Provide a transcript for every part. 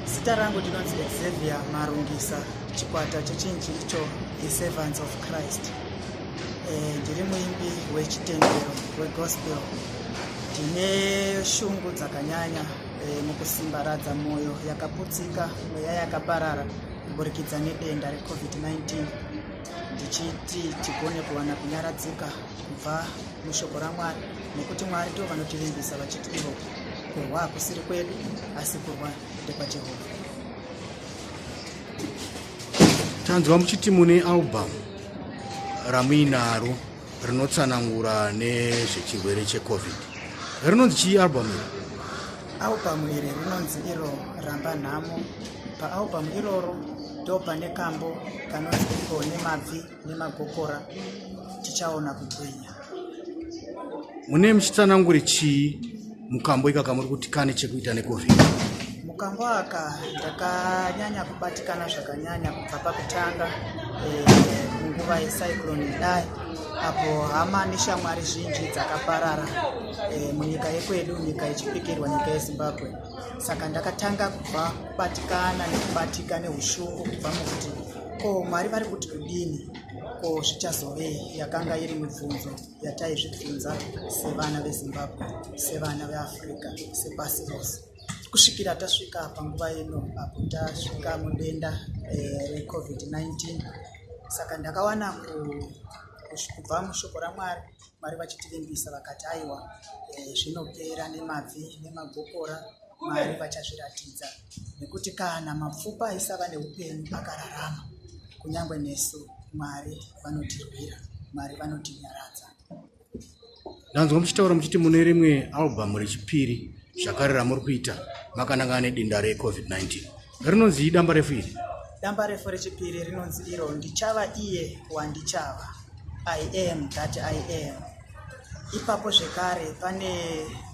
Zita rangu ndinonzi Xavier Marungisa chikwata chechinji icho iServants of Christ. Eh, ndiri muimbi wechitendero wegospel. Ndine shungu dzakanyanya eh, mukusimbaradza mwoyo yakaputsika, mweya yakaparara kuburikidza nedenda reCovid-19 ndichiti tigone kuwana kunyaradzika kubva mushoko raMwari nekuti Mwari ndivo vanotivimbisa vachiti ivo kurwa hakusiri kwedu asi kurwa ndekwajehovha tanzwa muchiti mune album ramuinaro rinotsanangura nezvechirwere checovid rinonzi chii album iri album iri rinonzi iro ramba nhamo paalbum iroro ndo pane kambo kanonzi iko nemabvi nemagokora tichaona kugwinya mune muchitsanangure chii mukambo ikaka muri kuti kane chekuita necovid mukambo aka ndakanyanya kubatikana zvakanyanya kubva pakutanga eh, munguva e, yecyclone idai apo hama neshamwari zhinji dzakaparara e, munyika yekwedu nyika ichipikirwa nyika yezimbabwe saka ndakatanga kubva kubatikana nekubatika neushungu kubva mukuti Ko Mwari vari kuti kudini? Ko zvichazovei? Yakanga iri mibvunzo yataizvibvunza sevana veZimbabwe, sevana veAfrica, sepasi rose kusvikira tasvika panguva ino apo tasvika mudenda eh, reCovid-19. Saka ndakawana kubva mushoko ramwari mwari vachitivimbisa vakati aiwa eh, zvinopera nemabvi nemagokora Mwari vachazviratidza, nekuti kana mapfupa aisava neupenyu akararama, kunyange nesu Mwari vanotirwira, Mwari vanotinyaradza. Ndanzwa muchitaura muchiti mune rimwe albhamu rechipiri zvakare ramuri kuita makanangana nedenda reCovid-19. rinonzi idamba refu iri damba refu rechipiri rinonzi iro ndichava iye wandichava i am that i am ipapo zvekare pane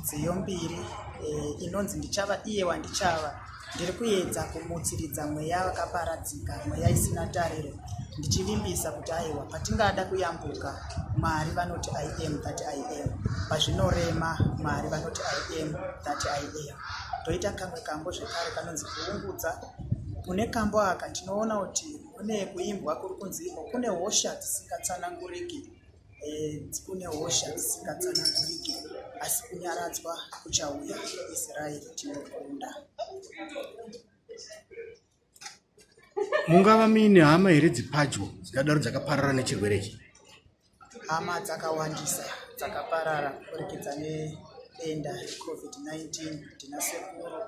nziyo mbiri e, inonzi ndichava iye wandichava ndiri kuedza kumutsiridza mweya wakaparadzika mweya isina tariro ndichivimbisa kuti aiwa patingada kuyambuka mwari vanoti i am that i am pazvinorema mwari vanoti i am that i am toita kamwe kambo zvekare kanonzi kuungudza mune kambo aka tinoona kuti kune kuimbwa kuri kunzi iko kune hosha dzisingatsananguriki e, kune hosha dzisingatsananguriki asi kunyaradzwa kuchauya israeri tinokunda Thank you. mungava muine hama here dzipadyo dzikadaro dzakaparara nechirwere ichi hama dzakawandisa dzakaparara kuburikidza nedenda recovid-19 ndina sekuru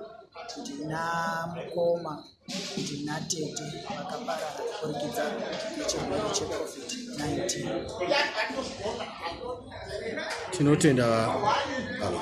ndina mukoma ndina tete vakaparara kuburikidza nechirwere checovid-19 tinotenda baba